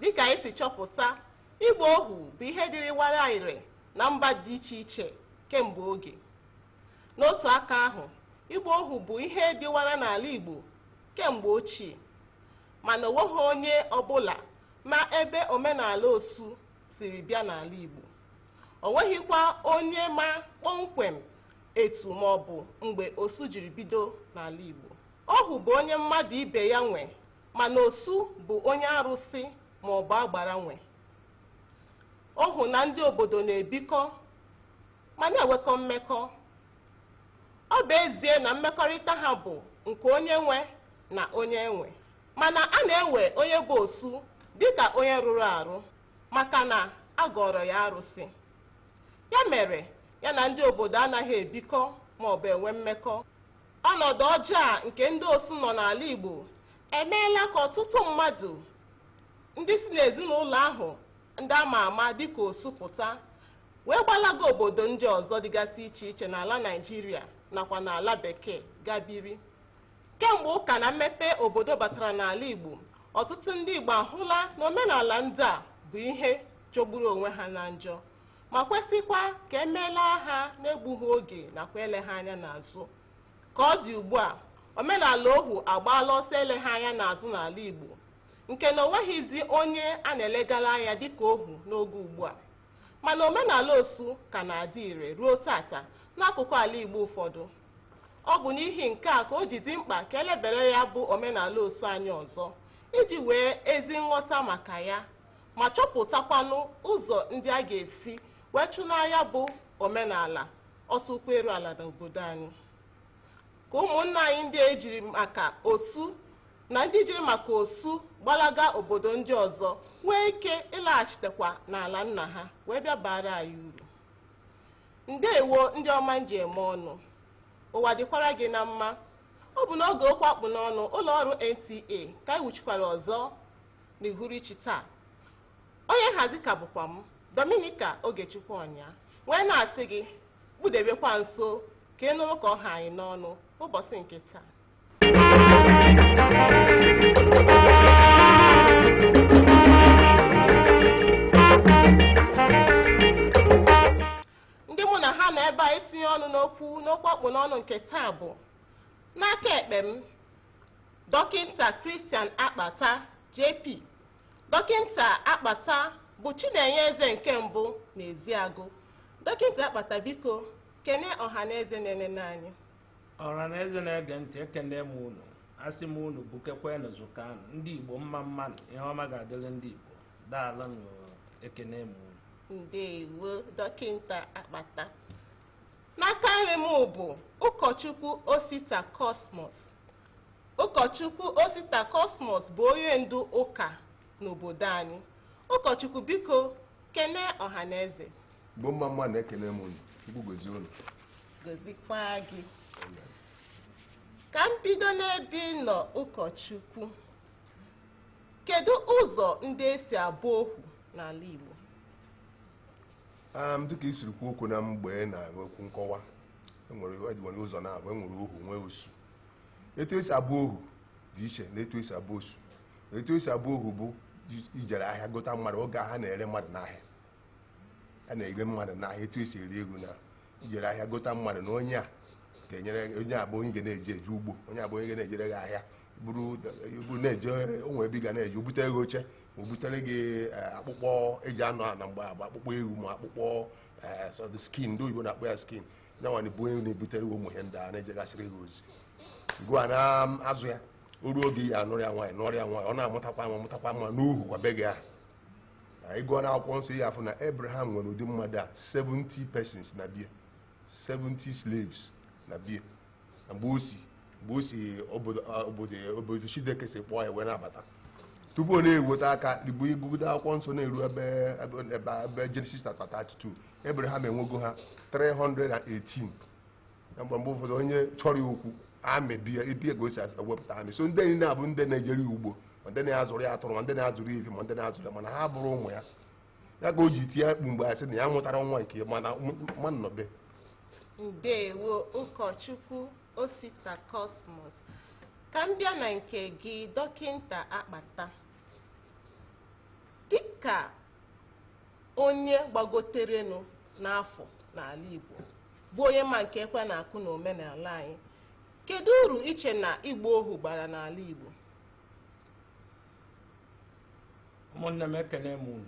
dịka anyị si chọpụta ịgba ohu bụ ihe dịrịwara ire na mba dị iche iche kemgbe oge n'otu aka ahụ ịgba ohu bụ ihe dịwara n'ala Igbo kemgbe ochie mana o nweghị onye ọbụla ma ebe omenala osu siri bịa n'ala Igbo o nweghịkwa onye ma kpọmkwem etu ma ọ bụ mgbe osu jiri bido n'ala Igbo ohu bụ onye mmadụ ibe ya nwe Mana osu bụ onye arụsị maọbụ agbara nwe ohu na ndị obodo na-ebikọ ma na-enwekọ mmekọ. Ọ bụ ezie na mmekọrịta ha bụ nke onye nwe na onye e nwe, mana a na-ewe onye bụ osu dịka onye rụrụ arụ maka na a gọọrọ ya arụsị. Ya mere ya na ndị obodo anaghị ebikọ maọbụ enwe mmekọ. Ọnọdụ ọjọọ a nke ndị osu nọ n'ala Igbo emeela ka ọtụtụ mmadụ ndị si n'ezinụlọ ahụ ndị a ma ama dịka osu pụta wee gbalaga obodo ndị ọzọ dịgasị iche iche n'ala Naịjirịa nakwa n'ala Bekee ga biri. Kemgbe ụka na mmepe obodo batara n'ala Igbo, ọtụtụ ndị Igbo ahụla na omenala ndị a bụ ihe jọgburu onwe ha na njọ. ma kwesịkwa ka e melaa ha n'egbughị oge nakwa eleghị anya n'azụ ka ọ dị ugbu a omenala ohu agbaala ọsọ eleghị anya n'azụ n'ala Igbo nke na o nweghịzi onye a na-elegara anya dịka ohu n'oge ugbu a mana omenala osu ka na-adị ire ruo tata n'akụkụ ala Igbo ụfọdụ ọ bụ n'ihi nke a ka o ji dị mkpa ka e lebere ya bụ omenala osu anya ọzọ iji nwee ezi nghọta maka ya ma chọpụtakwanụ ụzọ ndị a ga-esi wee chụnaa ya bụ omenala ọsọ ụkwụ eru ala n'obodo anyị ka ụmụnna anyị ndị e jiri maka osu na ndị jiri maka osu gbalaga obodo ndị ọzọ nwee ike ịlaghachitekwa n'ala nna ha wee bịa baara anyị uru ndewo ndị ọma m ji eme ọnụ ụwa dịkwara gị na mma ọ bụ n'oge okwu a kpụ n'ọnụ ụlọ ọrụ NTA ka anyị wuchikwara ọzọ n'uhuruchi taa onye nhazi ka bụkwa m Dominica Ogechukwu Ọnya wee na-asị gị kpụdebekwa nso ka ị nụrụ ka ọ ha anyị n'ọnụ ụbọchị nke taa ndị mụ na ha nọ ebe a itinye ọnụ n'okwu n'okwu a kpụ n'ọnụ nke taa bụ n'aka ekpe m Dọkịnta Christian Akpata, JP. Dọkịnta Akpata bụ Chinenye Eze nke mbụ na Eziagụ. Dọkịnta Akpata biko kene ọha na eze na-enene anyị. ọha na eze na-ege ntị ekene m unu asị m unu bukekwenụ zụkanụ ndị igbo mma mmanụ ihe ọma ga-adịrị ndị igbo daalụnụ ekene m unu Ndewo dọkịnta Akpata. N'aka nri m bụ ụkọchukwu Osita Cosmos. Ụkọchukwu Osita Cosmos bụ onye ndu ụka n'obodo anyị. Ụkọchukwu biko kene ọha na eze. Igbo mma mmanụ ekene m unu. Chukwu gozie unu. Gozikwa gị. Ka m bido n'ebe ị nọ ụkọchukwu. Kedu ụzọ ndị esi abụ ohu n'ala Igbo? Um, dịka i siri kwuo okwu na mgbe ị na-enwe okwu nkọwa enwere enwere ụzọ naabọ enwere ohu nwee osu etu esi abụ ohu dị iche na etu esi abụ osu etu esi abụ ohu bụ i- ijere ahịa gota mmadụ oge ha na-ere mmadụ n'ahịa a na-ere mmadụ n'ahịa etu esi ere eghu na ijere ahịa gota mmadụ na onye a ga-enyere onye a bụ onye ga na-eji eje ugbo onye a bụ onye ga na-ejere gị ahịa buru ibu na-eje o nwee ebe ị ga na-eje o bute gị oche ma o butere gị eh, akpụkpọ eji anọ ana mgbe agba akpụkpọ ewu ma akpụkpọ eh, so the skin ndị oyibo na-akpọ ya skin ya nwa na-abụ onye na-ebutere gị ụmụ ihe ndị a na-ejegasịrị gị ozi gị ana-azụ ya o ruo oge ya anụrụ ya nwaanyị nụrụ ya nwaanyị ọ na-amụtakwa nwa mụtakwa nwa n'uhu kwa be gị ahụ na ịgụọ na akwụkwọ nsọ ị ya-afụ na abraham nwere ụdị mmadụ a 70 persons na bie 70 slaves na bie mgbe o si mgbe o si obodo obodo obodo Chineke si kpọọ ya wee na-abata tupu ọ na-eweta aka igbo igụgide akwụkwọ nsọ na-eru ebe ebe ebe Genesis chapter 32 Abraham enwego ha 318 na mgbe mgbe ụfọdụ onye chọrọ ya okwu army bịa ebie ka o si ewepụta army so ndị niile a bụ ndị na-ejere ya ugbo ma ndị na-azụrụ ya atụrụ ma ndị na-azụrụ ya efi ma ndị na-azụrụ ya mana ha abụrọ ụmụ ya ya ka o ji tie mkpu mgbe asị na ya amụtarọ nwa nke mana mmadụ nọ be ndewo ụkọchukwu osita cosmos ka m bịa na nke gị dọkịnta akpata dịka onye gbagoterenụ n'afọ n'ala igbo bụ onye ma nke ekwe na-akụ na omenala anyị kedu uru i che na ịgba ohu bara n'ala igbo ụmụnne m ekene m unu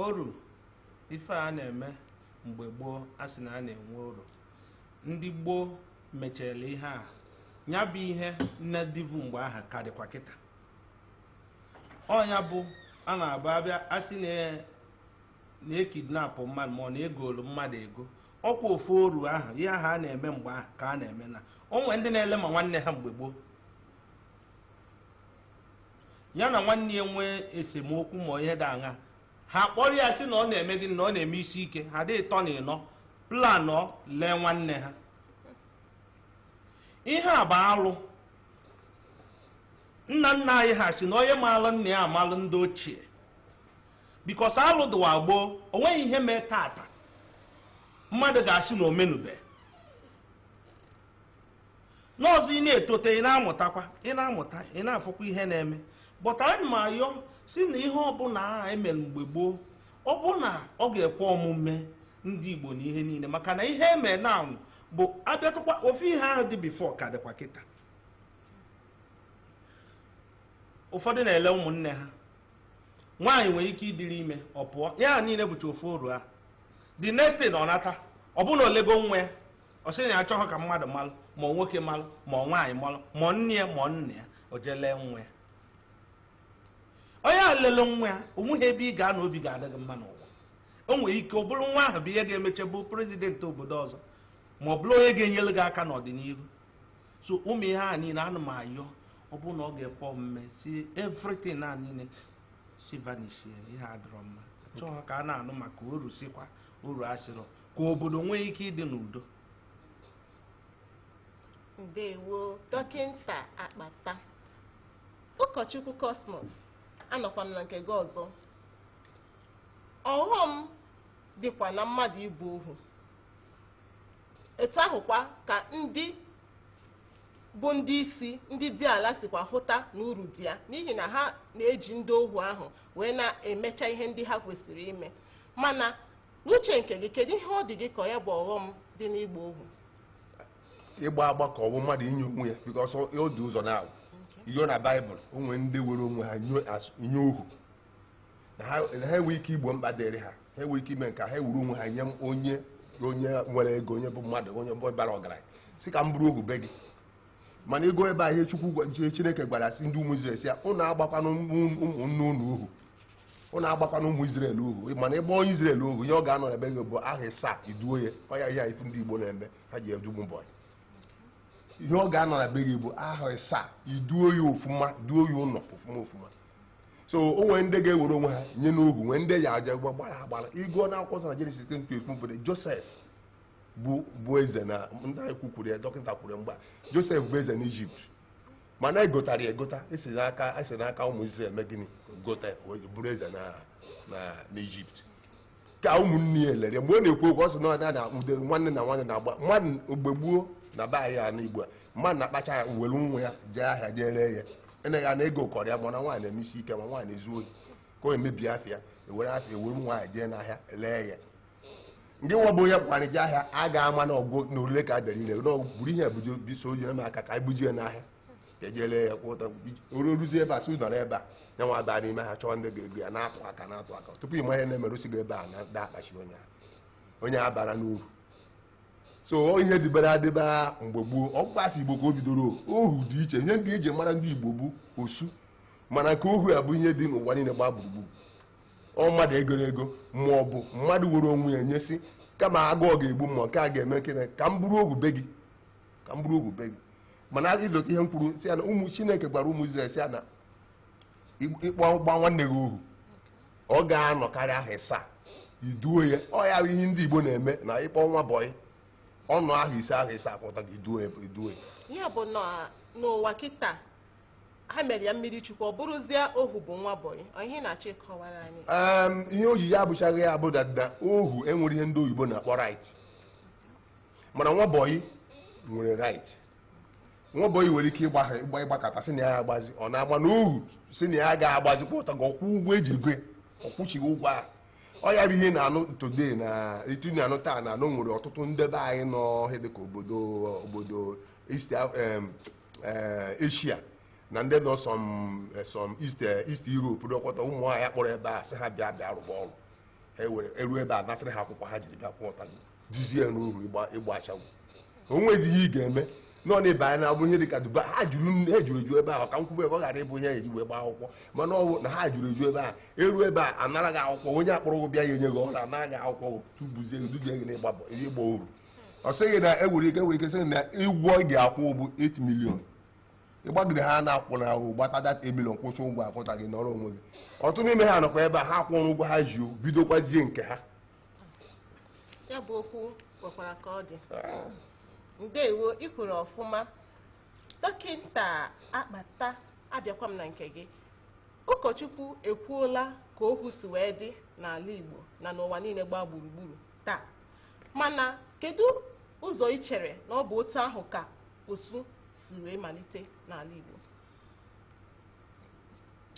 oru ife a na-eme mgbe gboo a sị na a na-enwe oru ndị gboo mechere ihe a ya bụ ihe niine dịvu mgbe ahụ ka dịkwa kịta ọ nya bụ a na-abụ abịa a sị na e kidnapụ mmadụ ma ọ na e golu mmadụ ego ọkwa ofu oru ahụ ihe ahụ a na-eme mgbe ahụ ka a na-eme na o nwe ndị na-ele ma nwanne ha mgbe gboo ya na nwanne ya nwee esemokwu ma ihe dị aṅaa ha kpọrọ ya sị na ọ na-eme gịnị na ọ na-eme isi ike ha dị ịtọ na ịnọ planọ lee nwanne ha ihe a bụ alụ nna nna anyị ha si na onye maalụ nna ya amalụ ndị ochie because alụ dụwa gboo o nweghị ihe mee tata mmadụ ga-asị na o menube n'ọzọ ị na-etote ị na-amụtakwa ị na-amụta ị na-afụkwa ihe na-eme but ana m ayọ si na ihe ọbụla e mere mgbe gboo ọ bụ na ọ ga-ekwe omume ndị Igbo na ihe niile maka na ihe eme na bụ abịatụkwa ofu ihe ahụ dị before ka dịkwa kịta ụfọdụ na-ele ụmụnne ha nwaanyị nwere ike ịdịrị ime ọ pụọ ya niile bụcha ofu oru a the next thing ọ nata ọ bụrụ na o lego nwa ya ọ sị na ya achọghị ka mmadụ malụ ma nwoke malụ ma nwaanyị malụ ma nne ya ma nna ya o jee lee nwa ya onye a lele nwa ya o nweghị ebe ị ga-anọ obi ga-adị gị mma n'ụwa o nwere ike ọ bụrụ nwa ahụ bụ ihe ga-emeche bụ prezidenti obodo ọzọ ma ọ bụrụ onye ga-enyere gị aka n'ọdịniru so ụmụ ihe a niile ana m ayọ ọ bụrụ na ọ ga-ekwe omume si everything a niile si vanishie ihe adịrọ mma chọọ ka a na-anụ maka oru sikwa oru asịrọ ka obodo nwee ike ịdị n'udo ndewo dọkịta akpata ụkọchukwu Cosmos anọkwa m na nke gị ọzọ ọghọm dịkwa na mmadụ ịbụ ohu etu ahụkwa ka ndị bụ ndị isi ndị diala sikwa hụta na uru dị ya n'ihi na ha na-eji ndị ohu ahụ wee na-emecha ihe ndị ha kwesịrị ime mana N'uche nke gị, kedu ihe ọ dị gị ka ya bụ ọghọm dị n'ịgba ohu? Ịgba agba ka ọ bụ mmadụ inye onwe ya because ọ dị ụzọ naabọ iyo na baịbụl o nwere ndị were onwe ha nye ohu na ha enwe ike igbo mkpa dịrị ha ha enwe ike ime nke ha ewuru onwe ha nye onye onye nwere ego onye bụ mmadụ onye bụ bara ọgaranya si ka m bụrụ ohu be gị mana ị gụọ ebe ahụ chukwu chineke gwara si ndị ụmụ Izrel si ya ụnụ agbakwana ụmụnne ụnụ ohu ụnụ agbakwana ụmụ Izrel ohu mana ị gba onye Izrel ohu ihe ọ ga-anọ na be gị bụ aha ịsaa i duo ya ọ ya ihe ị fụ ndị Igbo na-eme ha ji edu ụmụ bọyị ihe ọ ga-anọ na be gị bụ aha ịsaa i duo ya ofuma duo ya ụlọ ofuma ofuma so o nwere ndị ga-ewere onwe ha nye n'ohu nwee ndị a gba gbara agbara ị gụọ na akwụkwọ na Jenesis 10:12 bụ Josef bụ eze na ndị anyị kwukwuru ya dọkịta kwuru mgbe Josef bụ eze n'Ijipt mana e gotara ya egota esi n'aka esi n'aka ụmụ Izrel mee gịnị gota ya wee bụrụ eze na na n'Ijipt ka ụmụnne ya lere mgbe ọ na-ekwu okwu ọ sị na ọ na ude nwanne na nwanne na-agba mmadụ mgbe gboo na be anyị n'Igbo a mmadụ na-akpacha ya were nwa ya jee ahịa jee ree ya eneghị anya na ego kọrọ ya mana nwaanyị na-eme isi ike ma nwaanyị na-ezu ohi ka o mebie afịa ewere afịa ewere nwaanyị jee n'ahịa ree ya ndị nwa bụ onye kpara je ahịa a ga-ama na ọ wụ na orire ka a bịara ire na ọ wụ buru ihe buji biso onye na aka ka anyị bujie n'ahịa ka e je lee ya kwọta o ruzie ebe a sị nọrọ ebe a ya nwa baa n'ime ha chọọ ndị ga-ego ya na-atụ aka na-atụ aka tupu ị ma ihe na-eme e resi gị ebe a na da akpachi onye ahụ onye a bara n'oru so ihe dịbara adịba mgbe gboo ọ bụkwa a sị Igbo ka o bidoro ohu dị iche ihe ndị e ji mara ndị Igbo bụ osu mana nke ohu ya bụ ihe dị n'ụwa niile gbaa gburugburu ọ mmadụ e goro ego ma ọ bụ mmadụ were onwe ya nye sị kama agụọ ga-egbu m ma nke a ga-eme kene ka m bụrụ ohu be gị ka m bụrụ ohu be gị mana ị lota ihe m kwuru sị ya na ụmụ Chineke gwara ụmụ Izrel sị ya na ị kpọ gba nwanne gị ohu ọ ga-anọkarị aha ịsaa i duo ya ọ ya bụ ihe ndị Igbo na-eme na ị kpọ nwa bọyị ọ nọọ aha ise aha ịsaa kwọtago i duo ya i duo ya ya bụ na n'ụwa kịta ha mere ya mmiri chukwu ọ bụrụzie ohu bụ nwa bọyị ọ ihe ị na-achọ ịkọwara anyị Em, ihe o jiri abụchaghị ya bụ na na ohu enwero ihe ndị oyibo na-akpọ right mana nwa bọyị nwere right nwa bọyị nwere ike ịgba ha ịgba ịgbakata sị na ya agbazi ọ na-agba na ohu sị na ya ga-agbazi kwọtago ọ kwụọ ụgwọ e ji goo ya ọ kwụchighị ụgwọ ahụ ọ ya bụ ihe na-anụ today na etu na-anụ taa na e nwere ọtụtụ ndị be anyị nọ ihe dịka obodo obodo East Af- em, eh, Asia na ndị nọ some eh, some East eh, East Europe dọkọta ụmụ nwaanyị kpọrọ ebe a sị ha bịa bịa rụba ọrụ ha ewere eru ebe a nasịrị ha akwụkwọ ha jiri bịa kwọta dujezie n'oru ịgba ịgba ashawo o nweghịzi ihe ị ga-eme nọ na ebe anyị na-abụ ihe dị ka Dubai ha juru nne- ha juru eju ebe ahụ ka m kwube ebe ọ ghara ịbụ ihe e ji wee gbaa akwụkwọ mana ọ bụ na ha juru eju ebe a eru ebe a anara gị akwụkwọ onye kpọrọ gị bịa ya enye gị ọrụ anara gị akwụkwọ tubuzie gị duje gị n'ịgba bọ- ịgba oru ọ sịghị na enwere ike sị na ụgwọ ị ga-akwụ bụ 8 million ịgbagide ha na-akwụ na ahụ gbata dat 8 million kwụsị ụgwọ akwụta gị nọrọ onwe gị ọtụtụ n'ime ha nọkwa ebe a ha kwụrụ ụgwọ ha ji o, bidokwazie nke ha ya bụ okwu kwekwara ka ọ dị ndewo ị kwuru ọfụma dọkịta akpata abịakwa m na nke gị ụkọchukwu ekwuola ka okwu si wee dị n'ala igbo na n'ụwa niile gbaa gburugburu taa Mana kedu ụzọ i chere na ọ bụ otu ahụ ka osu si wee malite n'ala Igbo?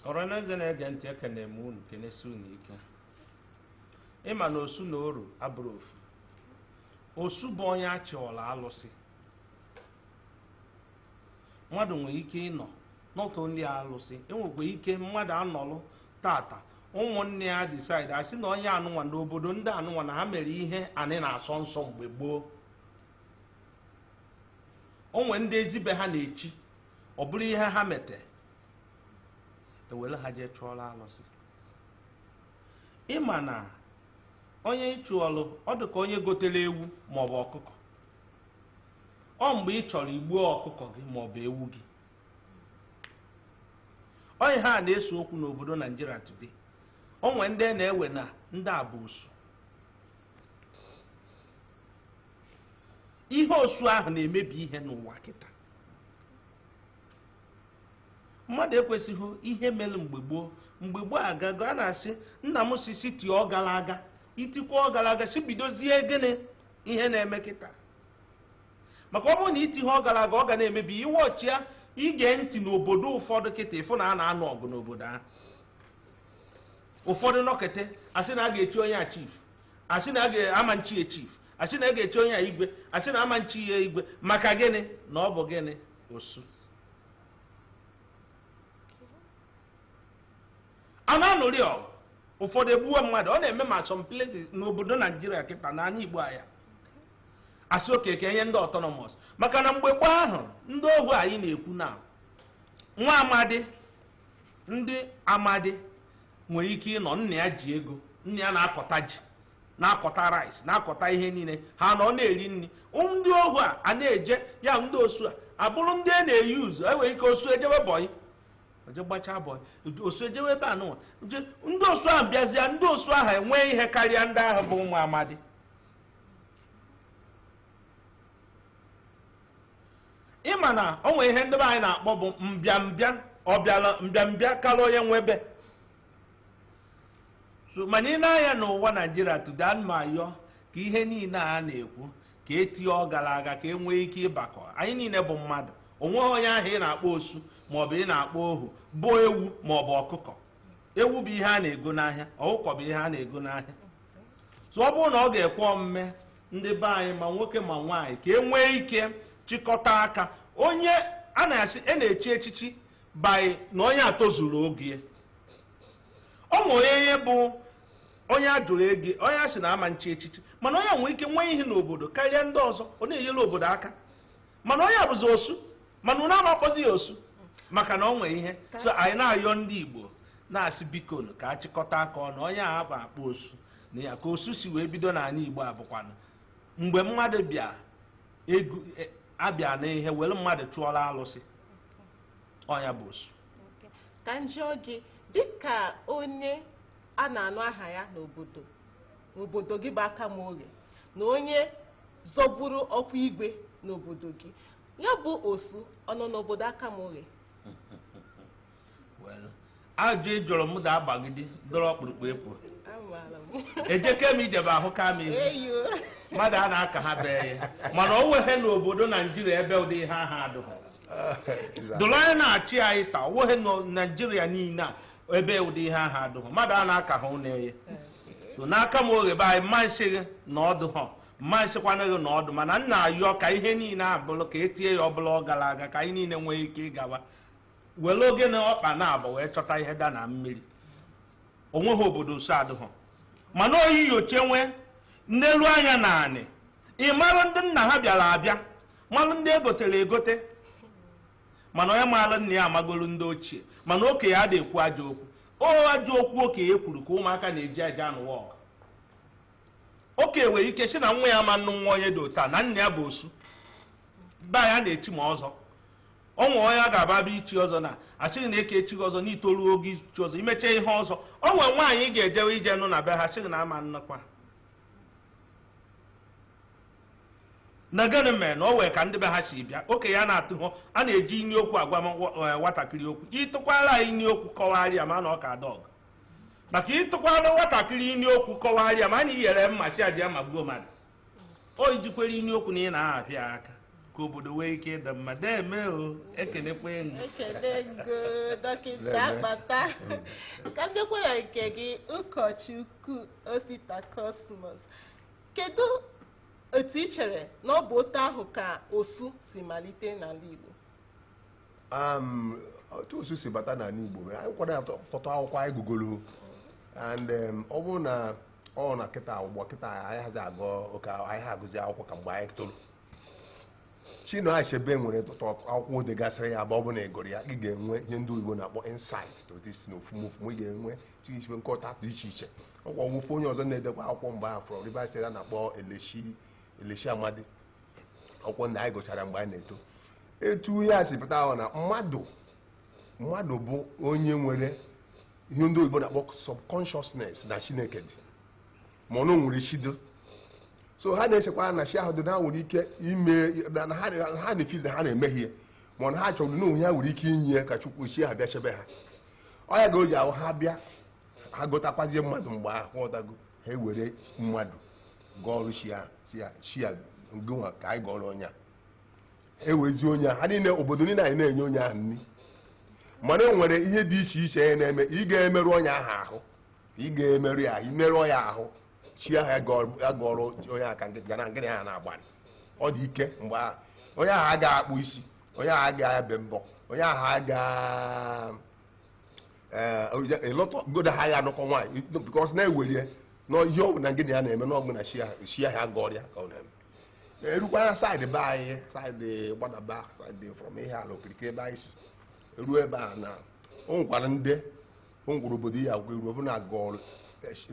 Ọranaeze na-ege ntị ekene m unu kenesi unu ike ị ma na osu na oru abụrọ ofu osu bụ onye a chụọla alụsị Mmadụ nwere ike ịnọ n'ụtụ ndị a alụsị, e nwekwa ike mmadụ anọlụ tata ụmụnne ya decide asị na onye anụnwa na obodo ndị anụnwa na ha mere ihe anị na-asọ nsọ mgbe gboo. O nwee ndị ezi be ha na-echi, ọ bụrụ ihe ha mete, ewere ha jee chụọrọ alụsị. Ị ma na onye ị chụọlụ, ọ dị ka onye gotere ewu maọbụ ọkụkọ. ọ mgbe ị chọrọ igbuo ọkụkọ gị ma ọ bụ ewu gị ọ ihe a na-ese okwu n'obodo naijiria today o nwee ndị na-ewe na ndị a bụ osu ihe osu ahụ na-emebi ihe n'ụwa kịta mmadụ ekwesịghị ihe mere mgbe gboo mgbe gboo agago a na-asị nna m si siti ọ gara aga itikwa ọ gara aga si bidozie gịnị ihe na-eme kịta maka ọ bụrụ na iti ihe ọ gara aga ọ ga na-emebi iwe ọchị ya i gee ntị n'obodo ụfọdụ kịta ị fụ na a na-anụ ọgụ n'obodo ahụ ụfọdụ nọkete asị na a ga-echi onye a chief asị na ama nchi ya chief asị na a ga-echi onye a igwe asị na ama nchi ya igwe maka gịnị na ọ bụ gịnị osu a na-anụrị ọgụ ụfọdụ egbuwe mmadụ ọ na-eme ma some places n'obodo naijiria kịta na anị igbo a ya-asị okay ka enye ndị autonomous maka na mgbe gboo ahụ ndị ohu anyị na-ekwu na nwa amadi ndị amadi nwere ike ịnọ nna ya ji ego nna ya na-akọta ji na-akọta rice na-akọta ihe niile ha nọ na-eri nri ndị ohu a a na-eje ya ndị osu a abụrụ ndị a na-use enwere ike osu ejebe bọyị o jee gbachaa bọyị osu ejewe ebe anụnwa ndị osu ahụ bịazịa ndị osu ahụ enwee ihe karịa ndị ahụ bụ ụmụ amadi ị ma na o nwere ihe ndị be anyị na-akpọ bụ mbịambịa ọbịala mbịambịa karịa onye nwe ebe so mana i nee anya n'ụwa naijiria today ana m ayọ ka ihe niile a na-ekwu ka e tie ọ gara aga ka e nwee ike ịbakọ anyị niile bụ mmadụ o nweghị onye ahụ ị na-akpọ osu maọbụ ị na-akpọ ohu bụ ewu maọbụ ọkụkọ ewu bụ ihe a na-ego n'ahịa ọkụkọ bụ ihe a na-ego n'ahịa so ọ bụrụ na ọ ga-ekwe omume ndị be anyị ma nwoke ma nwaanyị ka e nwee ike chịkọta aka onye a na-asị a na-echi echichi by na onye a tozuru ogo ya. o nwere onye bụ onye a jụrụ ego onye a sị na ama nchi echichi mana onye nwee ike nwee ihe n'obodo karịa ndị ọzọ ọ na-enyere obodo aka mana onye a bụzi osu mana unu ama akpọzi ya osu maka na ọ nwee ihe so anyị na-ayọ ndị igbo na-asị biko nụ ka a chịkọta aka ọnụ onye a bụ akpọ osu na ya ka osu si wee bido n'ala igbo a bụkwanụ mgbe mmadụ bịa ego e- abịa n'ihe were mmadụ chụọrọ alụsị onye a bụ osu ka m jụọ gị dịka onye a na-anụ aha ya n'obodo n'obodo gị bụ akama oghe na onye zọburu ọkwa igwe n'obodo gị ya bụ osu ọ nọ n'obodo akama oghe Well, ajụ ị jụrụ m ga-agbagide dọrọ ọkpụrụkpụ efu amaala m ejeke m ijebe ahụ ka m izu eyo mmadụ a na-aka ha bee ya mana o nweghị n'obodo naijiria ebe ụdị ihe ahụ adụghị dụrụ onye na-achị anyị taa o nweghị na naijiria niile a ebe ụdị ihe ahụ adụghị mmadụ a na-aka ha ụlọ eye so n'akama oghe be anyị m ma nsị gị na ọ dụha m ma nsịkwanụ gị na ọ dụ mana m na-ayọ ka ihe niile abụrụ ka e tie ya ọ bụla ọ gara aga ka anyị niile nwee ike ịgawa were oge na ọkpa naabọ wee chọta ihe da na mmiri o nweghị obodo osu adụghị mana oyi yoche nwee n'elu anya na anị ị marụ ndị nna ha bịara abịa marụ ndị e gotere egote mana onye maara nna ya amagolu ndị ochie mana okenye ada ekwu ajọ okwu o ajọ okwu okenye kwuru ka ụmụaka na-eji aja anụwa ọgụ okenye nwere ike sị na nwa ya ma nnụ nwa onye dị otu a na nna ya bụ osu be anyị a na-echi ma ọzọ o nwere onye a ga-aba abịa ichi ọzọ na a sị gị na eke echighị ọzọ n'itoru ogo ichi ọzọ i mecha ihe ọzọ o nwere nwaanyị ị ga-ejewe ije nụ na be ha sị gị na ama nnụkwa na gịnị mere na o nwee ka ndị be ha si bịa okenye a na-atụ hụ a na-eji inu okwu agwa m nwa- eh, nwatakịrị okwu ị tụkwara ya inu okwu kọwara ya ma na ọ ka dọg maka ị tụkwara nwatakịrị inu okwu kọwara ya ma na i nyere mma sị ya jee magbuo mmadụ o i jikwere inu okwu na ị na-ahapịa ya aka ka obodo nwee ike ịdị mma deeme o ekenekwa enyi ekele ngo dọkịta Lele. akpata ka m bịakwa na nke gị ụkọchukwu osita kosmos Kedu etu i chere na ọ bụ otu ahụ ka osu si malite n'ala Igbo? Um, otu osu si bata n'ala Igbo mere anyị kwado atọ- ọtụtụ akwụkwọ anyị gụgolo and um, ọ bụrụ na ọ na kịta ụgbọ kịta anaghịzi agụ oke a- anaghị agụzi akwụkwọ ka mgbe anyị toro Chinua Achebe nwere ọtụtụ akwụkwọ o degasịrị ya bụ ọ bụ na ị gụrụ ya ị ga-enwe ihe ndị oyibo na-akpọ insight to this na ofumufu ị ga-enwe tinyesibe nghọta dị iche iche ọkwa nwoke onye ọzọ na-edekwa akwụkwọ mgbe ahụ from Rivers State a na-akpọ Elechi Elechi Amadi akwụkwọ ndị anyị gụchara mgbe anyị na-eto etu ihe a si pụta ahụ na mmadụ mmadụ bụ onye nwere ihe ndị oyibo na-akpọ subconsciousness na Chineke dị ma na o nwere chi dị so ha na-echekwa na chi ahụ dị na ha nwere ike ime na na ha na- ha na-efi na ha na-emehie ma ọ na ha chọrọ na o nwe ihe ha nwere ike inye ya ka Chukwu chi ha bịa chebe ha ọ ya ga o ji ahụ ha bịa ha gotakwazie mmadụ mgbe ahụ ị ghọtago ha ewere mmadụ gọọrụ chi ya sị ya chi ya ngụnwa ka anyị gọọrọ onye a ewezi onye ha niile obodo niile anyị na-enye onye ahụ nri mana e nwere ihe dị iche iche ya na-eme ị gaghị emerụ onye ahụ ahụ ị gaghị emerụ ya ahụ i merụọ ya ahụ chi ahụ ya gọọrọ- ya gọọrọ onye aka ga na ngịrị ha na-agbalị ọ dị ike mgbe ahụ onye ahụ agaghị akpụ isi onye ahụ agaghị ebe mbọ onye ahụ agaghị eh, ịlọta godo ha ya anụkọ nwaanyị bikọs a na-ewere na ihe ọbụna ngị na ya na-eme na ọ gị na chi ahụ a gọọrọ ya ka ọ na-eme erukwara saịdị be anyị saịdị gbadaba saịdị from Ihiala okirikiri ebe anyị si ruo ebe a na o nwekwara ndị o nwere obodo ị ga-eru ọbụna gọọlụ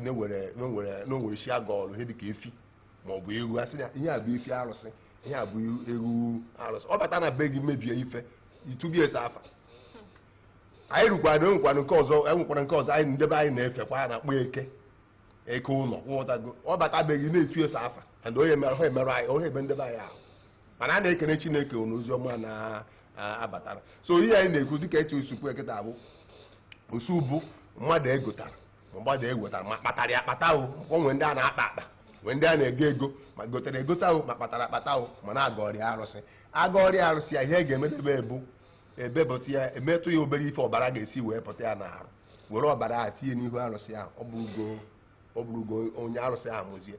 na e nwere chi a gọọlụ ihe dịka efi ma ọ bụ ewu a sị na ihe a bụ efi arụsị ihe a bụ ewu arụsị ọ bata na be gị mebie ife i tube ya sọ afa anyị rukwana enwekwana nke ọzọ enwekwara nke ọzọ anyị ndị be anyị na-efekwa a na-akpọ eke eke ụlọ ị ghọtago ọ bata be gị ị na-etu ya sọ afa and onye mere ha emerụ anyị onye ebe ndị be anyị ahụ mana a na-ekene Chineke na ozi ọma na-abatara so ihe anyị na-ekwu dịka etu o si kwuo kịta bụ osu bụ mmadụ e gotara mmadụ e gotara ma a kpatara ya akpata o o nwere ndị a na-akpa akpa nwee ndị a na-ego ego ma e gotere egote ahụ ma a kpatara akpata ahụ ma a na-agọrọ ya arụsị a gọrọ ya arụsị ya ihe a ga-emedebe ebu e bepụta ya emetụ ya obere ife ọbara ga-esi wee pụta ya n'arụ were ọbara ahụ tinye n'ihu arụsị ahụ ọ bụrụgo ọ bụrụgo onye arụsị ahụ mụzie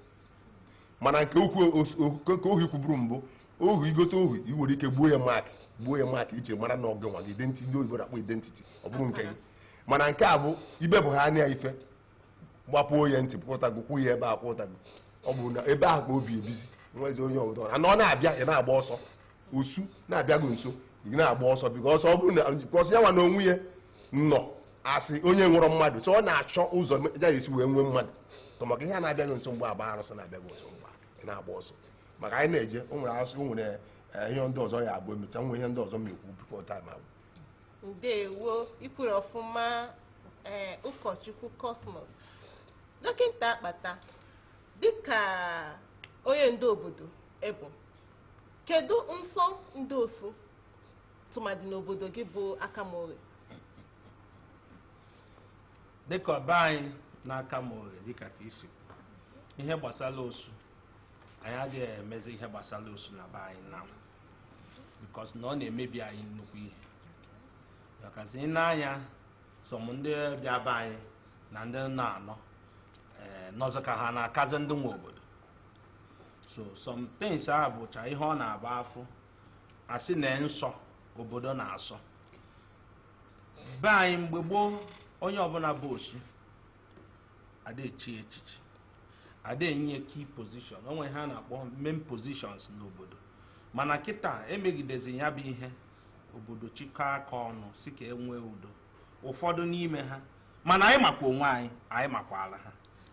mana nke ohu os- o- nke ohu i kwuburu mbụ ohu i gote ohu i nwere ike gbuo ya mak gbuo ya mak e ji mara na ọ gị nwe ya identiti ndị oyibo na-akpọ identiti ọ bụrụ nke gị mana nke a bụ ibe bụ ha anya ife gbapuo ya ntị pụtago kwụ ya ebe a pụtago ọ bụ na ebe ahụ ka o bi ebizi nwezi onye ọbụla ana ọ na-abịa ị na-agba ọsọ osu na-abịago nso ị na-agba ọsọ because ọ bụrụ na because ya nwa na onwe ya nọ asị onye nwụrọ mmadụ so ọ na-achọ ụzọ ya ga-esi wee nwee mmadụ tọ maka ihe a na-abịago nso mgbe agba arụsị na-abịago nso mgbe ị na-agba ọsọ maka anyị na-eje o nwere asụ o nwere eh, ihe ndị ọzọ ya abụ emecha nwee ihe ndị ọzọ m ekwu before time agwụ ndewo i kwuru ọfụma ee eh, ụkọchukwu Cosmos dọkịta akpata dịka onye ndu obodo ị bụ kedu nsọ ndị osu tụmadị n'obodo gị bụ Akama Oghe dịka ọ bụ anyị na Akama Oghe dịka ka isi ihe gbasara osu anyị adịghị emezi ihe gbasara osu na be anyị na because na ọ na-emebi anyị nnukwu ihe makazi i nee anya some ndị bịa be anyị na ndị na-anọ ee nọzi ka ha na-akazi ndị nwe obodo so some things a bụcha ihe ọ na-abụ a fụ a sị na nsọ obodo na-asọ be anyị mgbe gboo onye ọbụla bụ osu ada echi ya echichi ada enye ya key position onwe ha na-akpọ main positions n'obodo mana kịta emegidezi ya bụ ihe obodo chịkọ aka ọnụ sị ka e nwee udo ụfọdụ n'ime ha mana anyị makwa onwe anyị anyị makwala ha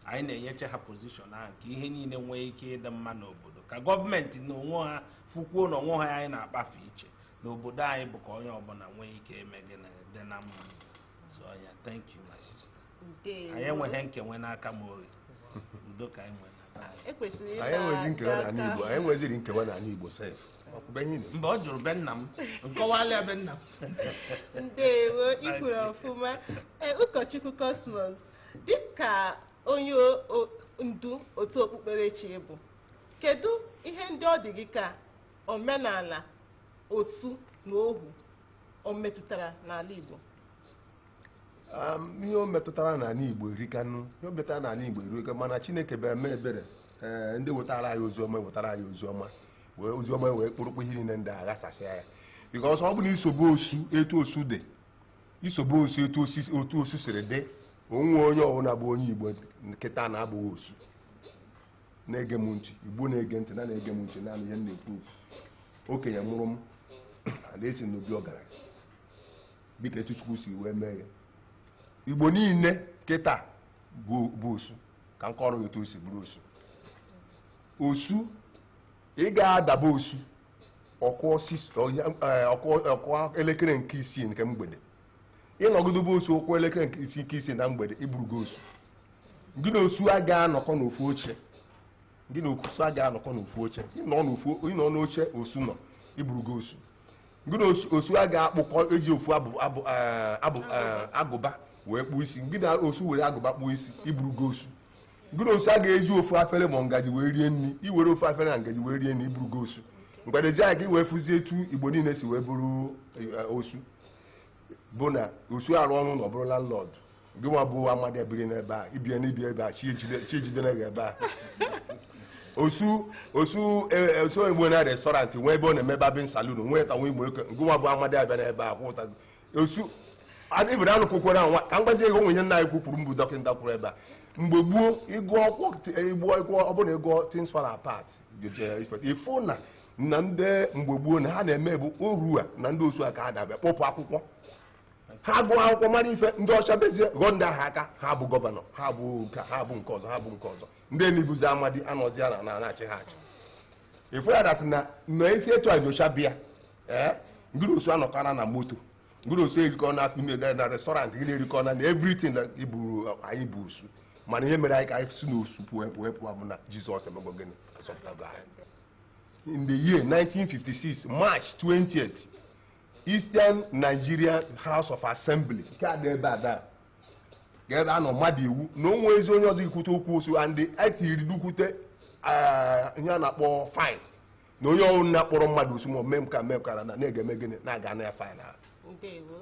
anyị na-enyeche ha position ahụ ka ihe niile nwee ike ịdị mma n'obodo ka gọọmenti na onwe ha fụkwuo na onwe ha anyị na-akpafe iche n'obodo anyị bụ ka onye ọbụla nwee ike ime gịnị dị na mma so yeah thank you my sister Ndewo. anyị enweghị nkewa n'Akama Oghe udo ka anyị nwere n'aka anyị. Ekwesịrị ịta anyị enwezi nkewa aka. n'ala Igbo anyị enweziri nkewa n'ala Igbo sef ọkwụbe ihe na mba o juru be nna m nkọwala be nna m ndewo i kwuru ọfụma Ee, ụkọchukwu Cosmos dịka onye o- o- ndu otu okpukperechi ị bụ kedu ihe ndị ọ dị gị ka omenala osu na ohu o metụtara n'ala Igbo ihe o metụtara n'ala Igbo erikanụ ihe o metụtara n'ala Igbo erika mana Chineke bịara mee ebere ee ndị wetara anyị ozi ọma wetara anyị ozi ọma wee ozi ọma wee kpụrụkpụ ihe niile ndị a ghasasịa ya because ọ bụ na i sobe osu etu osu dị i sobe osu etu o si si etu osu siri dị o nweghị onye ọbụla bụ onye Igbo kịta na-abụghị osu na-ege m ntị Igbo na-ege ntị na na-ege m ntị n'ihe m na-ekwu okwu okenye mụrụ m na-esi n'obi ọgaranya dịka etu Chukwu si wee mee ya Igbo niile kịta bụ bụ osu ka m kọrọ gị etu o si bụrụ osu osu ị ga-adaba osu ọ kụọ six ọya- eh, ọ kụ- ọ kụọ elekere nke isii nke mgbede ịnọgide be osu ọ kụọ elekere nke isii nke isii na mgbede ịbụrụgo osu gị na osu a ga-anọkọ n'ofu oche gị na osu a ga-anọkọ n'ofu oche ịnọ n'ofu ịnọ n'oche osu nọ ịbụrụgo osu gị na osu- osu a ga-akpụkọ eji ofu abụ abụ eh, abụ eh, agụba wee kpụọ isi gị na osu were agụba kpụọ isi ịbụrụgo osu Gị na osu a ga-eji ofu afere ma ngaji wee rie nri iwere ofu afere na ngaji wee rie nri ịbụrụgo osu mgbedeji anyị ka i wee fụzie etu Igbo niile si wee bụrụ eh, osu bụ na osu arụọ ụnọ ọ bụrụ landlord gị nwa bụ amadi ebiri na be ya ibie na ibie ebe a chi ejide- chi ejidere gị ebe a osu osu eh, eh, osu egbo na restaurant nwee ebe ọ na-eme barbing salon nwee ka nwa igbo gị nwa bụ amadi abịa n'ebe a kwụta osu adịbere anụ kwukwere anwa ka m gwazie gị o nwe ihe nna anyị ukwu kwuru mbụ dọkịta kwuru ebe a mgbe gboo ịgụ ọkwụ igbu ịgụ ọ bụrụ na ịgụọ things fall apart ịfụ na na ndị mgbe gboo na ha na-emegbu oru a na ndị osu a ka fada bịa kpọpụ akwụkwọ ha gụọ akwụkwọ mara ife ndị ọcha bịazie ghọọ ndị ahụ aka ha bụ gọvanọ ha bụ nke ha bụ nke ọzọ ha bụ nke ọzọ ndị niine bụzi amadi anọzi a na na-achị ha achị ịfụ ya that na na esi etu onye ọcha bịa ee gị na osu anọkọna na moto gị na osu erikọ na akpụ na na restaurant gị na-erikọ na na everything na iburu anyị bụ osu mana ihe mere anyị ka anyị si na osu pụọ pụọ pụọ bụ na jizọs emego gịnị azọpụtago anyị in the year 1956 march 20th eastern nigeria house of assembly nke a dị ebe a daa ka ebe a nọ mado iwu na o nwezi onye ọzọ ikwute okwu osu and etiri dukwute ihe a na-akpọ fine na onye ọwụna kpọrọ mmadụ osu ma mee ka mee kara na a ga-eme gịnị na a ga-ana ya fine a ndewo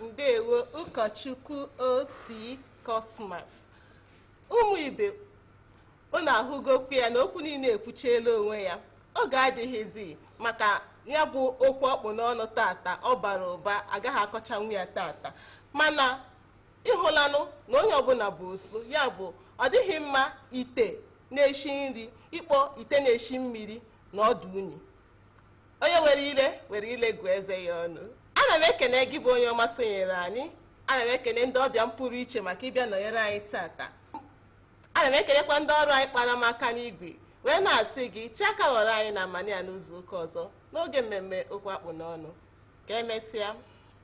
ndewo ụkọchukwu O.C. Cosmas ụmụ ibe unu ahụgokwu ya na okwu niile ekwuchiela onwe ya oge adịghịzi maka ya bụ okwu akpụ n'ọnụ tata ọ bara ụba agaghị akọchanwu ya tata mana ịhụlanụ na onye ọbụla bụ osu ya bụ ọ dịghị mma ite na-eshi nri ịkpọ ite na-eshi mmiri na ọ dụ unyi onye were ire were ire gụọ eze ya ọnụ ana m ekene gị bụ onye ọma sonyere anyị ana m ekene ndị ọbịa m pụrụ iche maka ịbịa nọnyere anyị tata ana m ekenekwa ndị ọrụ anyị kpara m aka n'igwe wee na-asị gị chee aka ghọrọ anyị n'amanị a n'izu ụka ọzọ n'oge mmemme okwu akpụ n'ọnụ ka emesịa